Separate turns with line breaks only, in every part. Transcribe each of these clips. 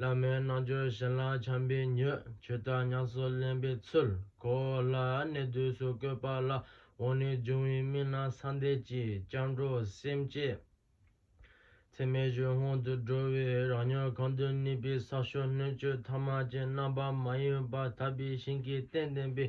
བླ་མའི་རྣལ་འབྱོར་བཞིན་ལ་བྱམས་པས་མྱོས། ཆོས་བདག་ཉམས་སུ་ལེན་པའི་ཚུལ། གོ་སླ་གནས་དུས་སུ་བཀོད་པ་ལ། འོག་ནས་འབྱུང་བའི་མི་སྣ་ས་འདས་ཀྱི། སྐྱབས་འགྲོ་སེམས་བསྐྱེད་ཚད་མེད་གཞུང་སྔོན་དུ་འགྲོ་བས་རང་ཉོན་གང་དུ་གནས་པའི་ས་ཕྱོགས་སྣོད་བཅུད་ཐ་མ་ཅན་རྣམ་པ་མ་ཡིན་པ་དག་པའི་ཞིང་གི་རྟེན་བརྟེན་པའི།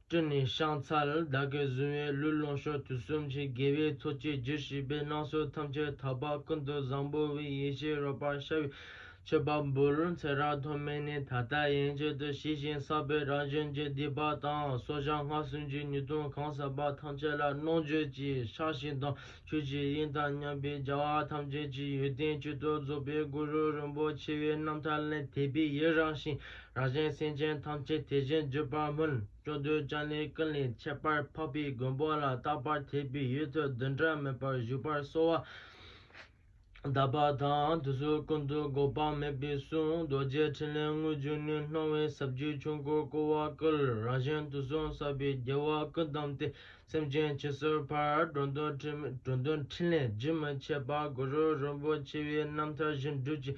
སྤྲུལ་ནས་བཤང་ཚར་བདག་གི་གཟུང་བའི་ལུས་ལོངས་ཤོག་དུས་གསུམ་གྱི་དགེ་བའི་ཚོགས་ཀྱིས་རྒྱུ་བྱས་པས་སྣང་སྲིད་ཐམས་ཅད་དག་པ་ཀུན་ཏུ་བཟང་པོ་བའི་ཡེ་ཤེས་རོལ་པར་ཤར་བའི་མཆོད་པ་འབུལ། ཚེ་རབས་ཐོག་མེད་ནས་ད་ལྟ་ཡན་ཆད་དུ་ཞི་ཞིང་བསགས་པའི་རང་བཞིན་གྱི་སྡིག་པ་དང་སོ་བྱང་སྔགས་སུན་འབྱིན་ཉེས་ལྟུང་གང་ཟག་པ་ཐམས་ཅད་ལ་རྣོ་འགྱོད་ཀྱི་ཕྱག་ཞིང་དང་ཆོས་ཀྱི་དབྱིངས་དང་མཉམ་པའི་བྱ་བ་ཐམས་ཅད་ཀྱི་ཡོན་ཏན་གཅིག་ཏུ་རྫོགས་པའི་གུ་རུ་རིན་པོ་ཆེའི་རྣམ་ཐར་ལས་དད་པའི་ཡིད་རངས་ཤིང་རང་གཞན་སེམས་ཅན་ཐམས་ཅད་དེ་བཞིན་བརྗོད་པར་སྨོན། ལྕོགས་རྡུལ་ལྕང་ལོའི་ཀུན་ལས་ཁྱད་པར་འཕགས་པའི་མགོན་པོ་ལ་རྟག་པར་དད་པའི་ཡུལ་དུ་བདུན་ཕྲག་མེད་པར་བཞུགས་པར་གསོལ་བ། བཟླས་པ་དང་དུས་སུ་ཀུན་ཏུ་འགོག་པ་མེད་པའི་གསུང་རྡོ་རྗེ་ཕྲིན་ལས་དངོས་བརྒྱུད་ནས་སྣང་བའི་ཟབ་རྒྱུའི་ཆོས་འཁོར་བསྐོར་བ་བསྐུལ་རང་གཞན་དུག་གསུམ་བསགས་པའི་རྒྱལ་བ་ཀུན་བསྡམས་ཏེ་སེམས་ཅན་བྱད་གསོལ་བར་འགྲོ་འདོད་འཕྲིན་ལས་རྒྱུན་མི་འཆད་པ་གུ་རུ་རིན་པོ་ཆེའི་རྣམ་ཐར་བཞིན་སྒྲུབ་ཅིང་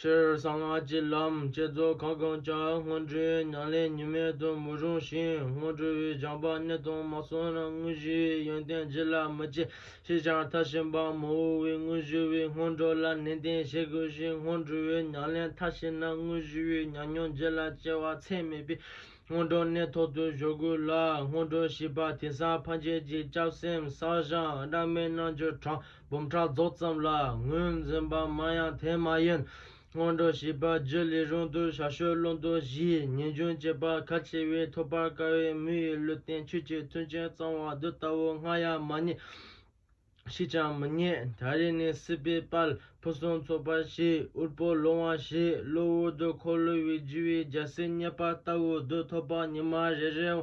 ཕྱིར་གསང་སྔགས་ཀྱི་ལམ་བསྐྱེད་རྫོགས་ཁ་སྐོང་བྱ། སྔོན་འགྲོའི་ཉམས་ལེན་གཉིས་མེད་དུ་མི་རུང་ཞིང་སྔོན་འགྲོ་བའི་སྦྱངས་པ་གནད་དང་མ་སོང་ན་དངོས་གཞིའི་ཡོན་ཏན་རྒྱུད་ལ་མི་སྐྱེ་ཞེས་ཀྱང་མཐར་ཕྱིན་པ་མི་འོས་པས་དངོས་གཞི་བའི་སྔོན་འགྲོ་ལ་ནན་ཏན་བྱེད་དགོས་ཤིང་སྔོན་འགྲོ་བའི་ཉམས་ལེན་མཐར་ཕྱིན་ན་དངོས་གཞི་བའི་ཉམས་མྱོང་རྒྱུད་ལ་སྐྱེ་བ་ཚད་མེད་པས་སྔོན་འགྲོ་གནད་ཐོག་ཏུ་གཞོལ་དགོས་ལ་སྔོན་འགྲོ་བྱེད་པ་དེ་སར་འཕགས་རྒྱལ་གྱི་སྐྱབས་སེམས་བསགས་སྦྱངས་སྦྲགས་མའི་རྣལ་འབྱོར་དྲངས། འབུམ་ཕྲག་རྫོགས་ཙམ་ལ་ངོས་འཛིན་པ་མང་ཡང་དེ་མ་ཡིན། སྔོན་འགྲོ་བྱིས་པ་བརྒྱུད་ལས་རུང་དུ་ཞར་བྱུས་བློ་འདོན་བཞིའི་ངེས་འབྱུང་བྱེད་པ་གལ་ཆེ་བས་ཐོབ་པར་དཀའ་བས་མི་ཡི་ལུས་རྟེན་ཆོས་ཀྱི་མཐུན་རྐྱེན་གཙང་བ་བདུད་ལྟ་བུ་སྔ་ཡ་མ་རྙེད། ཕྱིས་ཀྱང་མི་རྙེད། ད་རེས་ནི་སྲིད་པའི་དཔལ་ཕུན་སུམ་ཚོགས་པར་བྱས་དབུལ་པོ་ལོང་བ་བྱས་གློ་བུར་དུ་འཁོར་ལོས་དབྱེ་བའི་རྒྱལ་སྲིད་རྙེད་པ་ལྟ་བུ་བདུད་ཐོབ་པ་ཉི་མ་རེ་རེའང་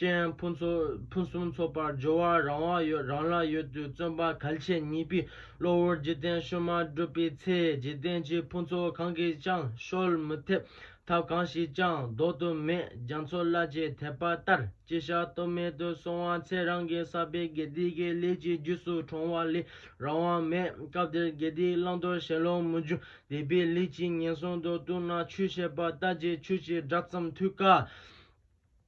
ཅན་ཕུན་སུམ་ཚོགས་པར་སྦྱོར་བ་རང་དབང་ཡོད་རང་ལ་ཡོད་དུས་བརྩོན་པ་གལ་ཆེ་གཉིས་པའི་བློ་བོར་འཇིག་རྟེན་བཤོལ་མ་བསྒྲུབས་པའི་ཚེ་འཇིག་རྟེན་གྱི་ཕུན་ཚོགས་གང་གིས་ཀྱང་བཤོལ་མི་ཐེབས། ཐབས་གང་ཞིག་ཀྱང་ལྡོག་ཏུ་མེད་རྒྱ་མཚོ་བླ་བརྒྱའི་དད་པ་ལྟར་ཅི་བྱ་གཏོལ་མེད་དུ་སོང་བ་ཚེ་རང་གི་བསགས་པའི་དགེ་སྡིག་གི་ལས་ཀྱི་རྒྱུས་སུ་གྲོང་བ་ལས་རང་དབང་མེད་སྐབས་དེར་དགེ་སྡིག་བླང་དོར་ཞེན་ལོག་མི་འཇུག་དད་པའི་ལུས་ཀྱིས་ངན་སོང་དུ་ལྟུང་ན་ཆོས་བཤད་པ་ལྟ་ཅི་ཆོས་ཀྱི་སྒྲ་ཙམ་ཐོས་དཀའ།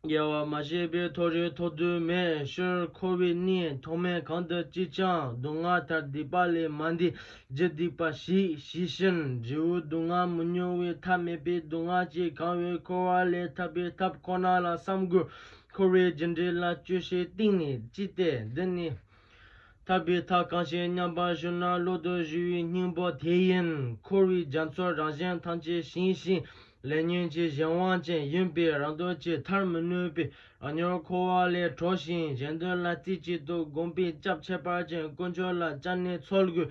རྒྱལ་བ་མ་གཞི་པའི་ཐོ་རེངས་ཐོ་རྡུལ་མེད་ཤོར་འཁོར་བའི་གནས་ཐོག་མའི་གང་དུ་ཅི་བྱང་སྡུག་བསྔལ་ཐར་སྡིག་པ་ལས་མ་འདས་རྒྱུ་སྡིག་པ་ཞིག་ཞི་ཞིང་འབྲས་བུ་སྡུག་བསྔལ་མི་མྱོང་བའི་ཐབས་མེད་པས་སྡུག་བསྔལ་གྱིས་གང་བའི་འཁོར་བ་ལས་ཐར་པའི་ཐབས་ཁོ་ན་ལ་བསམ་དགོས། འཁོར་བའི་རྒྱུ་འབྲས་ལ་དཔྱོད་ཤེས་གཏིང་ནས་ཅི་སྟེ་འདི་ནི། ཐར་པའི་མཐའ་གང་ཞིག་མཉམ་པར་ཞུ་ན་གློ་བུར་བཞུ་བའི་སྙིང་པོ་དེ་ཡིན། འཁོར་བའི་རྒྱ་མཚོར་རང་གཞན་ཐམས་ཅད་བྱིང་ཞིང་ལས་ཉོན་གྱི་གཞན་དབང་ཅན་ཡིན་པས་རང་འདོད་ཀྱིས་ཐར་མི་ནུས་པས་རང་ཉོར་འཁོར་བ་ལས་གྲོལ་ཞིང་གཞན་དོན་ལ་རྩེ་གཅིག་ཏུ་བསྒོམ་པས་སྐྱབས་ཁྱད་པར་ཅན་དཀོན་མཆོག་ལ་བཅངས་ནས་ཚོགས་དགུའི་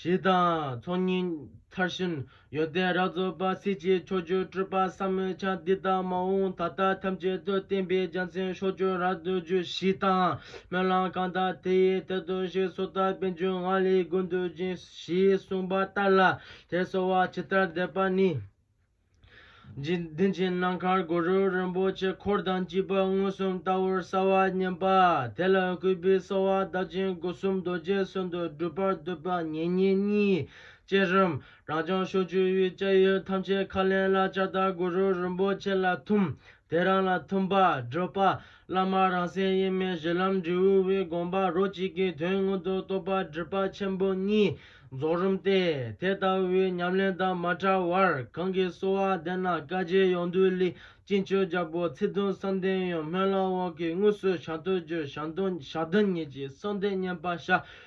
ཞེས་དང། ཚོགས་གཉིས་ཚར་བཞིན་ཡོན་ཏན་རབ་རྫོགས་པ་སྲིད་ཀྱི་ཕྱོགས་བཅུར་སྤྲུལ་པ་ཟབ་མོའི་ཆ་འདི་དག་མ་འོངས་ད་ལྟ་ཐམས་ཅད་དུ་བསྟན་པའི་རྒྱལ་མཚན་ཕྱོགས་བཅུར་རབ་ཏུ་རྒྱུ་ཞེས་དང། སྨོན་ལམ་གང་དག་དེ་ཡི་དེར་ལྟོས་ཤིག་སོ་ཐར་པའི་རྒྱུན་ལྔ་ལས་ཀུན་འདུས་ཅན་ཞེས་གསུངས་པ་ལྟར་ལ་དེར་གསོལ་བ་ཇི་ལྟར་འདེབས་པ་ནི། འཇིག་རྟེན་གྱི་ནམ་མཁར་གུ་རུ་རིན་པོ་ཆེ་འཁོར་དང་བཅས་པ་མངོན་སུམ་ལྟ་བུར་གསལ་བར་བསྙེན་པ་དེ་ལ་གུས་པས་གསོལ་བ་གདབ་ཅིང་སྒོ་གསུམ་རྡོ་རྗེ་གསོལ་འདུག་སྒྲུབ་པར་འདོད་པ་ངེས་རྙེད་གཉིས་བཅས་རིམ་རང་བྱང་ཕྱོགས་བཅུ་དབུས་བཅས་ཡུལ་ཐམས་ཅད་མཁའ་ལས་ལ་བྱ་བརྟག་གུ་རུ་རིན་པོ་ཆེ་ལ་ཐིམ་དེ་རང་ལ་མཐུན་པར་བགྲོད་པ། བླ་མར་རང་སེམས་དབྱེར་མེད་གཞི་ལམ་འབྲས་བུའི་དགོངས་པ་རོ་གཅིག་གི་དོན་དངོས་དོན་རྟོགས་པ་སྒྲིབ་པ་ཆེན་པོ་གཉིས་རྫོགས་རིམ་སྟེ་དེ་ལྟ་བུའི་ཉམས་ལེན་དང་མ་བྲལ་བར་གང་གིས་གསོལ་བ་འདེབས་ན་བཀའ་རྗེ་ཡོངས་འདུའི་ལི་སྤྱི་མཆོད་རྒྱལ་པོ་ཚིག་དོན་བསམ་གཏན་ཡོད་སྨོན་ལམ་འོག་གི་དངོས་གསོལ་ཞག་སྟོད་རྒྱུ་ཞག་བདུན་ཉིན་གྱི་གསོལ་འདེབས་བསྙེན་པ་བྱ།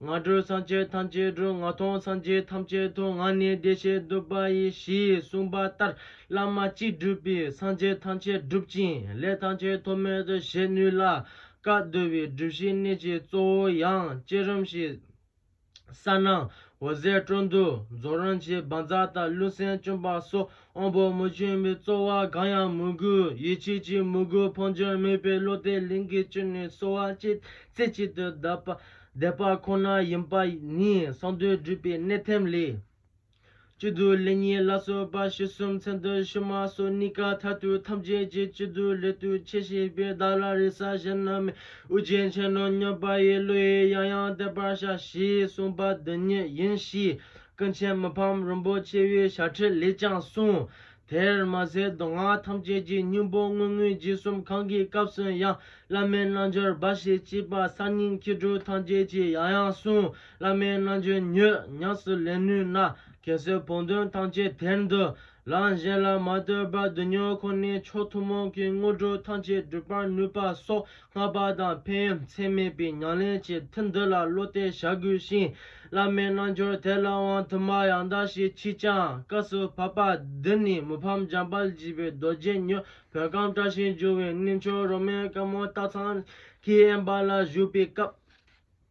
ང་སྒྲོལ་སངས་རྒྱས་ཐམས་ཅད་སྒྲོལ་ང་མཐོང་སངས་རྒྱས་ཐམས་ཅད་མཐོང་ང་ནི་བདེ་གཤེགས་བསྡུ་བ་ཡི་ཞེས་གསུངས་པ་ལྟར་བླ་མ་གཅིག་བསྒྲུབས་པས་སངས་རྒྱས་ཐམས་ཅད་འགྲུབ་ཅིང་ལས་ཐམས་ཅད་ཐོགས་མེད་དུ་བྱེད་ནུས་ལ། བཀའ་བསྡུ་བའི་སྒྲུབ་གཞིའི་གནད་ཀྱི་གཙོ་བོ་ཡང་བསྐྱེད་རིམ་ཞེས་གསལ་སྣང་འོད་ཟེར་སྤྲོ་བསྡུ་རྫོགས་རིམ་གྱི་འབར་འཛག་དང་རླུང་སེམས་བཅོམ་པ་སོགས་དབང་པོ་མི་མཐུན་པའི་རྩོལ་བ་གང་ཡང་མི་དགོས་ཡིད་ཆེས་ཀྱིས་མི་དགོས་འཕོ་འགྱུར་མེད་པའི་བློ་དེ་ལིང་གའི་བཅུད་ནས་གསོ་བ་གཅེས་རྩེ་གཅིག་ཏུ་བསྡད་པ་ཁོ་ན་ཡིན་པ་ནི་གསང་འདུས་སྒྲུབ་པའི་གནད་ཐེམས་ལས། བཅུ་དུས་ལས་གཉིས་བླ་གསོལ་པ་ཞེ་གསུམ་མཚན་དུ་ཕྱི་མ་གསོལ་གཉིས་ཀ་མཐར་ཐུག་ཐམས་ཅད་ཀྱི་བཅུ་དུས་ལས་ཐུགས་ཆེ་བྱས་པས་བདག་ལ་རེ་ས་གཞན་ན་མེད་དབུ་རྒྱན་ཆེན་ནོ་སྙོམས་པ་ཡི་བློ་ཡིས་ཡང་ཡང་བརྟན་པར་བྱ་ཞེས་གསུངས་པ་འདི་ཉིད་ཡིན་གཤིས། སྐུ་མཁྱེན་མི་ཕམ་རིན་པོ་ཆེ་ཡི་ཞལ་ཁྲིད་ལས་ཀྱང་གསུངས། དེར་མ་ཟད་མདོ་སྔགས་ཐམས་ཅད་ཀྱི་སྙིང་པོ་དངོས་དངོས་རྗེས་གསུམ་གང་གི་སྐབས་སུ་ཡང་བླ་མའི་རྣལ་འབྱོར་སྦ་བཞེད་བགྱིས་པ་གསར་རྙིང་སྐྱེ་སྒྲུབ་ཐམས་ཅད་ཀྱི་ཡང་ཡང་གསུངས་བླ་མའི་རྣལ་འབྱོར་ཉོས་ཉམས་སུ་ལེན་ནུས་ན་གལ་སྲིད་བོགས་འདོན་ཐམས་ཅད་དེར་འདུ། ལམ་གཞན་ལ་མ་ལྟོས་པར་བསྡུ་ཉོ་ཁོ་ནའི་མཆོག་ཐུན་མོང་གི་དངོས་གྲུབ་ཐམས་ཅད་སྒྲུབ་པར་ནུས་པ་སོགས་སྔགས་པ་དང་ཕན་ཚན་མེད་པའི་ཉམས་ལེན་གྱི་མཐུ་འདི་ལ་བློ་གཏད་བྱ་དགོས་ཤིང་བླ་མའི་རྣལ་འབྱོར་དེ་ལ་དབང་དུ་མ་ཡང་དག་ཞིག་མཆིས་ཀྱང་སྐབས་སུ་བབ་པ་འདི་ནི་མི་ཕམ་འཇམ་དཔལ་བརྒྱུད་པའི་རྡོ་རྗེ་མྱུར་བོད་ཁམས་བཀྲ་ཤིས་འགྱུར་བའི་གནས་མཆོག་རོ་མའི་དཀར་མོ་སྟག་ཚང་གི་དབེན་པ་ལ་བཞུགས་པའི་སྐབས།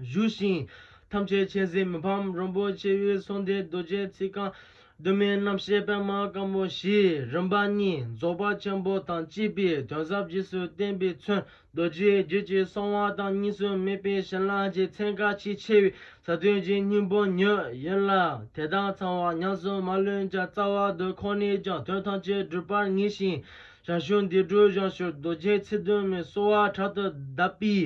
བཞུགས་ཤིང། ཐམས་ཅད་མཁྱེན་བརྩེ་མི་ཕམ་རིན་པོ་ཆེ་དབུས་གསུང་སྡེ་རྡོ་རྗེའི་ཚིག་རྐང། གདོད་མའི་རྣམ་བཤད་པད་མ་སྐམ་པོ་བཞི་རིམ་པ་གཉིས་རྫོགས་པ་ཆེན་པོ་དང་བཅས་པའི་དོན་ཟབ་རྗེས་སུ་བསྟན་པའི་མཚོན་རྡོ་རྗེའི་རྒྱུད་ཀྱི་གསང་བ་དང་གཉིས་སུ་མེད་པའི་གཞན་ལྷ་རྗེ་ཚན་བཀའ་ཆེས་ཆེ་བའི་ཟབ་དོན་གྱི་སྙིང་པོ་ཉིད་ཡིན་ལ་དེ་དག་ཚང་བ་ཉམས་སུ་མ་ལོན་ཀྱང་རྩ་བ་དུ་ཁོ་ནས་ཀྱང་དོན་ཐམས་ཅད་འགྲུབ་པར་ངེས་ཤིང། ཞར་བྱུང་འདི་སྒྲུབ་བྱང་ཞུ་རྡོ་རྗེ་ཚིག་དོན་མི་གསོ་བ་དྲག་ཏུ་གདབ་པའི་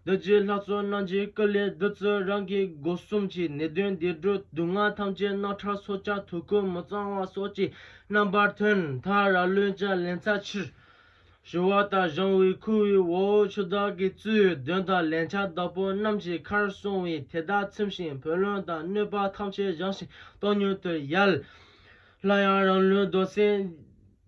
བདུད་རྩིའི་ལྷ་ཚོགས་རྣམས་ཀྱིས་སྐུ་ལས་བདུད་རྩི་རང་གི་སྒོ་གསུམ་གྱི་ནད་གདོན་སྡེ་སྒྲུབ་སྡུག་བསྔལ་ཐམས་ཅད་རྣག་ཁྲག་སོ་ལྕགས་དུག་ཁུ་མི་གཙང་བ་སོགས་ཀྱི་རྣམ་པར་ཐོན་མཐར་ར་ལུས་ཀྱི་ལན་ཚྭ་ཕྱིར་བཞུ་བ་དང་གཞང་དབུས་ཁུ་བའི་འོག་འོག་ཆུ་བདག་གི་བཙུའི་གདོན་དང་ལན་ཆགས་བདག་པོ་རྣམས་ཀྱི་ཁར་སོང་བས་དེ་དག་ཚིམ་ཞིང་བུ་ལོན་དང་གནོད་པ་ཐམས་ཅད་བྱང་ཞིང་སྟོང་ཉུལ་དུ་ཡལ། སླར་ཡང་རང་ལུས་རྡོར་སེམས།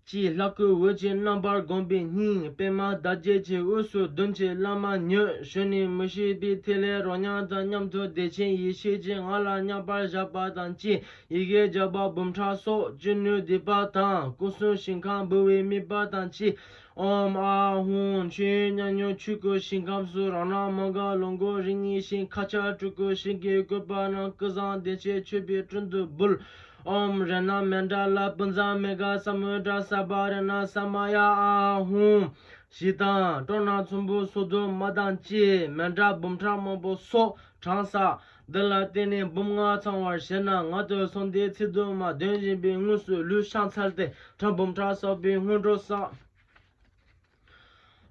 ཅེས་ལྷ་སྐུ་འོད་ཅན་རྣམ་པར་བསྒོམས་པའི་སྙིང་པདྨ་ཟླ་བརྒྱད་ཀྱི་དབུས་སུ་གདུལ་བྱའི་བླ་མ་མྱོས་བྱོན་ནས་མི་ཤེས་པའི་ཐིག་ལེ་རོ་མྱང་དང་མཉམ་དུ་བདེ་ཆེན་ཡེ་ཤེས་ཀྱི་ངང་ལ་མཉམ་པར་བཞག་པ་དང་བཅས་ཡི་གེ་བརྒྱ་པ་འབུམ་ཕྲག་སོགས་ཅི་ནུས་བཟླས་པ་དང་སྐུ་གསུང་ཞིང་ཁམས་འབུལ་བའི་དམིགས་པ་དང་བཅས་ཨོམ་ཨ་ཧུང་མཆོད་ཡོན་མཉམ་མྱོང་ཆོས་སྐུ་ཞིང་ཁམས་སུ་རང་སྣང་མ་འགགས་ལོངས་སྐུ་རིགས་ལྔའི་ཞིང་ཁ་ཆར་སྤྲུལ་སྐུ་ཞིང་གི་བཀོད་པ་རྣམས་སྐུ་བཟང་བདེ་ཆེན་མཆོད་པའི་དྲུང་དུ་འབུལ། ཨོམ་རེ་ན་མན་ཏྲ་ལ་པུན་ཛ་མི་དགའ་ས་མུ་ཏྲ་ས་པ་རེ་ན་ས་མ་ཡ་ཨ་ཧུམ། ཞེས་དང་སྤྲོ་ན་ཚོམ་བུ་སོ་སྡོད་མ་དང་བཅས་མན་ཏྲ་འབུམ་ཕྲག་མང་པོ་སོགས་གྲངས་བསགས། འདི་ལ་བརྟེན་ནས་འབུམ་ལྔ་ཚང་བར་བྱས་ན་ང་སྟོད་སོག་མདའི་ཚིག་དུ་མ་འདོན་བཞིན་པའི་དངོས་སུ་ལུས་བཤང་ཚར་ཏེ་ཁྲག་འབུམ་ཕྲག་བསགས་པའི་སྔོན་འགྲོ་བསགས།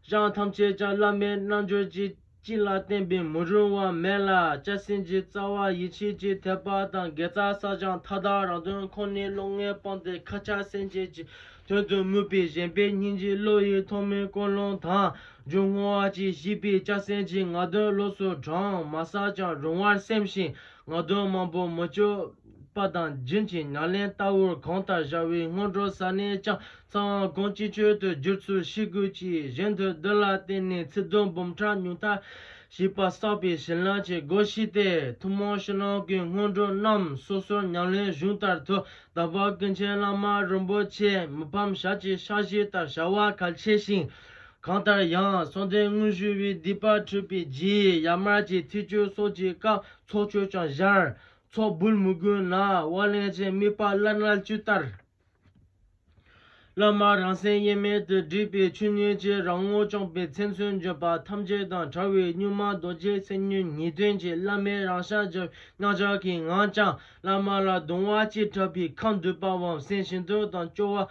བྱང་ཐམས་ཅད་ཀྱང་བླ་མའི་རྣལ་འབྱོར་གྱིས་བཅིངས་ལ་བརྟེན་པས་མི་རུང་བ་མེད་ལ་སྐྱབས་སེམས་ཀྱི་རྩ་བ་ཡིད་ཆེས་ཀྱི་ཐེག་པ་དང་དགེ་རྩ་བསགས་སྦྱངས་མཐའ་དག་རང་དོན་ཁོ་ནའི་བློ་ངན་སྤངས་ཏེ་ཁ་ཆག་སེམས་བསྐྱེད་ཀྱི་དོན་དུ་མོས་པས་ཞེན་པའི་སྙིང་རྗེ་བློ་ཡི་ཐོག་མའི་ཀུན་སློང་དང་སྦྱོར་བསྔོ་བ་གྱིས་བཤིག་པས་སྐྱབས་སེམས་ཀྱི་ངག་འདོན་ལོགས་སུ་བགྲང་མ་བསགས་ཀྱང་རུང་བར་སེམས་ཤིང་ངག་འདོན་མང་པོ་མི་སྤྱོད་པ་དང་སྦྱིན་གྱི་ཉམས་ལེན་ལྟ་བུར་གང་ལྟར་བཞག་བས་སྔོན་འགྲོ་ས་ནས་ཀྱང་ཚང་བ་དགོངས་ཀྱིས་བཅོལ་དུ་བསྒྱུར་ཚུལ་ཞི་རྒོལ་གྱིས་གཞན་དོན་བདུད་ལ་བརྟེན་ནས་ཚིག་དོན་འབུམ་ཕྲག་ཉུང་མཐའ་ཞིག་པར་བསགས་པའི་བྱིན་རླབས་ཀྱི་སྒོ་ཕྱེས་ཏེ་ཐུན་མོང་ཕྱི་ནང་གི་སྔོན་འགྲོ་རྣམས་སོ་སོར་ཉམས་ལེན་གཞུང་ལྟར་དུ་དམ་པ་ཀུན་མཁྱེན་བླ་མ་རིན་པོ་ཆེ་མི་ཕམ་ཞབས་ཀྱི་ཕྱག་བཞེས་ལྟར་བྱ་བ་གལ་ཆེ་ཞིང། གང་ལྟར་ཡང་གསང་བདེ་དངོས་གཞུང་བའི་སྡིག་པ་འཁྲུད་པའི་རྗེས་ཡར་མར་གྱི་ཐིག་སྐྱོལ་སོགས་ཀྱི་སྐབས་ཚོགས་མཆོད་ཀྱང་བཞར། ཚོགས་འབུལ་མི་དགོས་ན་དབར་ལེན་གྱི་དམིགས་པ་བླ་རྣལ་འབྱོར་ལྟར། སློབ་མ་རང་སེམས་དབྱེར་མེད་དུ་སྒྲིབ་པའི་ཆོས་ཉིད་ཀྱི་རང་ངོ་བཅངས་པའི་མཚན་མཚོན་བརྗོད་པ་ཐམས་ཅད་དང་བྲལ་བའི་གཉུག་མ་རྡོ་རྗེ་སེམས་ཉིད་ཉིད་དོན་གྱི་བླ་མའི་རང་ཤར་གྱི་སྙིང་ལྕགས་ཀྱི་ངང་བསྐྱངས་བླ་མ་ལ་གདུང་བ་སྐྱེས་དྲགས་པས་ཁ་འདུད་པའམ་སེམས་ཞེན་དུག་དང་སྐྱོ་བ་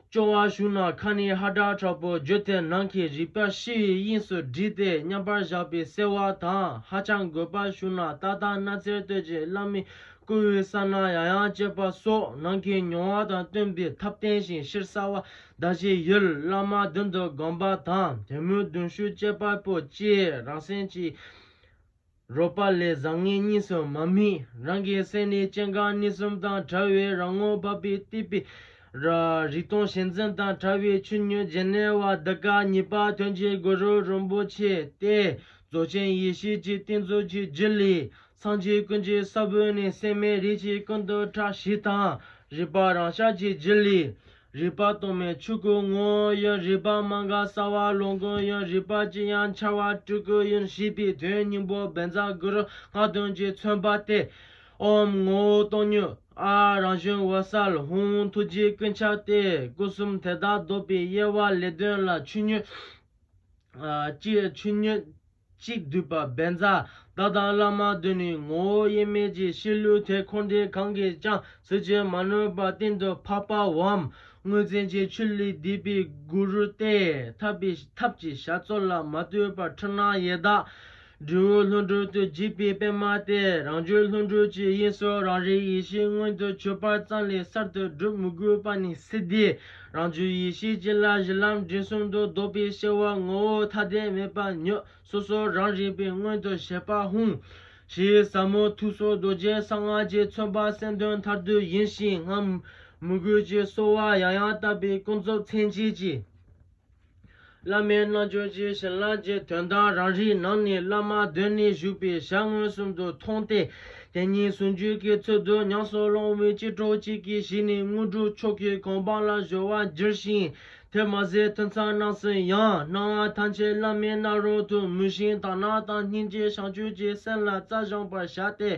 སྐྱོ་བ་ཞུགས་ན་ཁ་ནས་ཧ་སྒྲ་དྲག་པོ་བརྗོད་དེ་ནང་གི་རིག་པ་ཤི་བའི་དབྱིངས་སུ་བསྒྲིལ་ཏེ་མཉམ་པར་བཞག་པས་གསལ་བ་དང་ཧ་ཅང་དགོད་པ་ཞུགས་ན་ཏག་ཏག་སྣ་རྩེར་གཏོད་ཀྱི་བླ་མའི་བསྐུལ་བའི་ས་ན་ཡང་ཡང་བསྐྱེད་པ་སོགས་ནང་གི་མྱོང་བ་དང་བསྟུན་པའི་ཐབས་བསྟན་ཞིང་གཤེར་གསལ་བ་བཟླ་བྱའི་ཡུལ་བླ་མ་མདུན་དུ་བསྒོམ་པ་དང་དེ་མོའི་གདུང་ཤུགས་བསྐྱེད་པ་པོ་སྐྱེས་རང་སེམས་ཀྱི་རོལ་པ་ལས་བཟང་ངན་གཉིས་སུ་མ་དམིགས་རང་གི་སེམས་ནི་སྐྱེ་འགག་གཉིས་གསུམ་དང་བྲལ་བའི་རང་ངོ་བ་པའི་གཏིབས་པའི་རིག་སྟོང་ཞེན་འཛིན་དང་བྲལ་བའི་ཆུ་སྙོད་རྗེན་ནེ་བ་འདི་ཀ་གཉིས་པ་དོན་གྱི་གུ་རུ་རིན་པོ་ཆེ་སྟེ་རྫོགས་ཆེན་ཡེ་ཤེས་ཀྱི་ཏིང་འཛུགས་ཀྱི་རྒྱུད་ལས། སངས་རྒྱས་ཀུན་གྱི་ས་བོན་ནི་སེམས་མའི་རིགས་ཀྱི་ཀུན་ཏུ་ཕྲག་བཞི་དང། རིག་པ་རང་ཤར་གྱི་རྒྱུད་ལས། རིག་པ་སྟོང་མའི་ཆོས་སྐུ་ངོ། ཡོན་རིག་པ་མ་འགགས་གསལ་བ་ལོངས་སྐུ་ཡོན་རིག་པ་ཅི་ཡང་འཆར་བ་སྤྲུལ་སྐུ་ཡོན་ཞེས་པའི་དོན་སྙིང་པོ་སྦས་མཛད་གུ་རུ་སྔགས་དོན་གྱིས་མཚོན་པ་སྟེ། ཨོམ་ངོ་བོ་སྟོང་ཉིད་ཨ་རང་བྱུང་འོད་གསལ་ཧཱུྃ་ཐུགས་རྗེ་ཀུན་ཁྱབ་སྟེ་སྐུ་གསུམ་དེ་དག་ལྡོག་པའི་དབྱེ་བ་ལས་དོན་ལ་ཆོས་ཉིད། ཅེས་ཆོས་ཉིད། གཅིག་བསྡུས་པ་བན་བཟའ་ཟླ་དང་བླ་མ་བདུན་ནི་ངོ་བོ་དབྱེར་མེད་ཀྱི་གཤིས་ལུགས་དེ་འཁོར་འདས་གང་གིས་ཀྱང་ཟིལ་གྱིས་མ་ནོན་པར་གཏིང་དུ་ཕབ་པའོ། དངོས་འཛིན་གྱི་ཆུ་ལས་བསྡུས་པའི་གུ་རུ་སྟེ་ཐར་པའི་ཐབས་ཀྱི་བྱ་རྩོལ་ལ་མ་ལྟོས་པར་འཁྲུལ་སྣང་ཡེ་དག་འབྲས་བུ་ལྷུན་གྲུབ་ཏུ་འཇུག་པའི་པདྨ་སྟེ་རང་རྒྱུད་ལྷུན་གྲུབ་ཀྱི་དབྱིངས་སུ་རང་རིག་ཡེ་ཤེས་མངོན་དུ་གྱུར་པར་ཙམ་ལས་གསར་དུ་བསྒྲུབ་མི་དགོས་པ་ནི་སིདྡྷིའི་རང་རྒྱུད་ཡེ་ཤེས་ཀྱི་ལྷ་གཞི་ལམ་འབྲས་གསུམ་དུ་བཟློག་པའི་གཤེགས་བ་ངོ་བོ་མཐའ་རྟེན་མེད་པ་མྱོས་སོ་སོ་རང་རིག་པའི་སྔོན་དུ་བྱས་པ་ཧཱུྃ། ཞེས་ཟབ་མོ་ཐུགས་སྲོག་རྡོ་རྗེ་གསང་སྔགས་ཀྱི་མཚོན་པ་སེམས་དོན་མཐར་ཐུག་ཡིན་ཞིང་སྔར་མུ་འགོད་ཀྱི་གསོལ་བ་ཡང་ཡང་བཏབ་པས་ཀུན་རྫོབ་མཚན་བཅས་ཀྱི། བླ་མའི་རྣལ་འབྱོར་ཇི་བཞིན་བླ་མཆོད་དོན་དམ་རང་རིག་ནང་ནས་བླ་མ་གདོད་ནས་བཞུགས་པའི་ཞལ་མངོན་སུམ་དུ་མཐོང་སྟེ། དེ་ཉིད་ཟུང་འཇུག་གི་ཚུལ་དུ་ཉམས་སུ་བླང་བའི་ཕྱིར་གྲོགས་གཅིག་གིས་གཞི་ནས་དངོས་གྲུབ་མཆོག་གི་གོ་འཕང་ལ་གཞོལ་བར་འགྱུར་ཞིང། དེར་མ་ཟད་ཐུན་མཚམས་རྣམས་སུ་ཡང་སྣང་བ་ཐམས་ཅད་བླ་མའི་རྣ་རོལ་དུ་མུན་བཞིན་དག་སྣང་དང་སྙིང་རྗེ་བྱང་ཆུབ་ཀྱི་སེམས་ལ་རྩལ་སྦྱངས་པར་བྱ་སྟེ།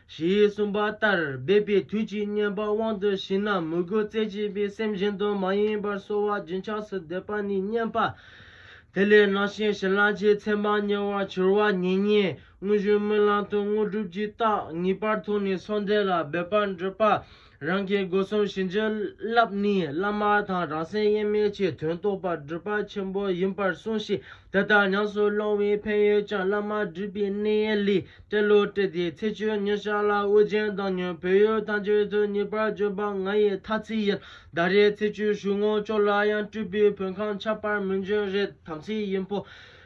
ཞེས་གསུངས་པ་ལྟར་སྦས་པའི་དུས་ཀྱི་བསྙེན་པ་དབང་དུ་བྱས་ན་མོས་གུས་རྩེ་གཅིག་པའི་སེམས་བཞིན་དུ་མ་ཡེངས་པར་གསོལ་བ་རྒྱུན་ཆགས་སུ་འདེབས་པ་ནི་བསྙེན་པ་དེ་ལས་སྣང་ཞིང་ཞི་ལྷག་ཆེས་ཚད་མར་ཉེ་བར་གྱུར་བ་ཉིད་ཉིད་དངོས་བཞིན་སྨོན་ལམ་དུ་དངོས་གྲུབ་ཀྱི་རྟགས་ངེས་པར་མཐོང་ནས་སངས་རྒྱས་ལ་འབད་པར་འདོད་པ། རང་གི་སྒོ་གསུམ་བྱིན་གྱིས་བརླབས་ནས་བླ་མ་དང་རང་སེམས་དབྱེར་མེད་ཀྱི་དོན་རྟོགས་པ་སྒྲུབ་པ་ཆེན་པོ་ཡིན་པར་གསུངས་ཤིང་དེ་ལྟར་ཉམས་སུ་བླང་བའི་ཕན་ཡོན་ཀྱང་བླ་མ་སྒྲུབ་པའི་གནས་ལས་སྤྲེལ་ལོ་སྤྲེལ་ཟླའི་ཚེས་བཅུ་ཉིན་ཤར་ལ་དབུ་རྒྱན་བཏང་ཉིན་བོད་ཡུལ་ཐམས་ཅད་དུ་ངེས་པར་བྱོན་པ་ང་ཡི་ཐ་ཚིག་ཡིན་ཟླ་རེའི་ཚེས་བཅུའི་ཞུགས་ངོ་ཅོག་ལ་ཡང་སྤྲུལ་པའི་བོད་ཁམས་ཆགས་པར་མི་འབྱུང་རེད་དམ་ཚིག་ཡིན་ཕོ།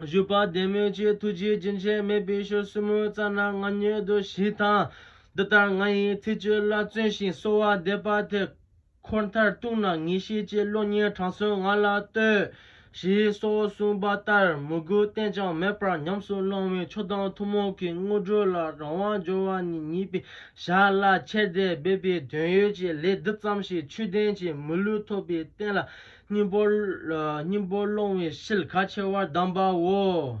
བཞུགས་པ་བདེ་མོའི་ཆེད་ཐུགས་རྗེ་རྒྱུན་ཆད་མེད་པའི་ཞོར་སྲུ་མོའི་རྩ་ན་མངའ་མྱོས་དུ་ཞིག་དང། འདི་ལྟར་ང་ཡི་ཚིག་བཅོས་ལ་བརྩོན་ཞིང་གསོལ་བ་འདེབས་པ་དེ་འཁོར་མཐར་གཏུགས་ན་ངེས་ཤེས་ཀྱི་བློ་གཉེར་དྲང་སྲོང་ང་ལ་ལྟོས། ཞེས་སོགས་གསུངས་པ་ལྟར་མོས་གུས་བརྟན་ཅིང་མེད་པར་ཉམས་སུ་བླང་བའི་ཆོས་དང་ཐུན་མོང་གི་དངོས་གྲུབ་ལ་རང་དབང་འབྱོར་བ་ནི་ཉིད་པའི་ཞར་ལ་ཁྱེར་བདེ་སྦས་པའི་དོན་ཡོད་ཅེས་ལས་འདི་ཙམ་ཞིག་ཆོས་ལྡན་གྱི་མི་ལུས་ཐོབ་པའི་རྟེན་ལ་སྙིང་པོ་སྙིང་པོ་སློང་བའི་ཕྱིར་ཁ་ཕྱེ་བར་གདམས་པའོ།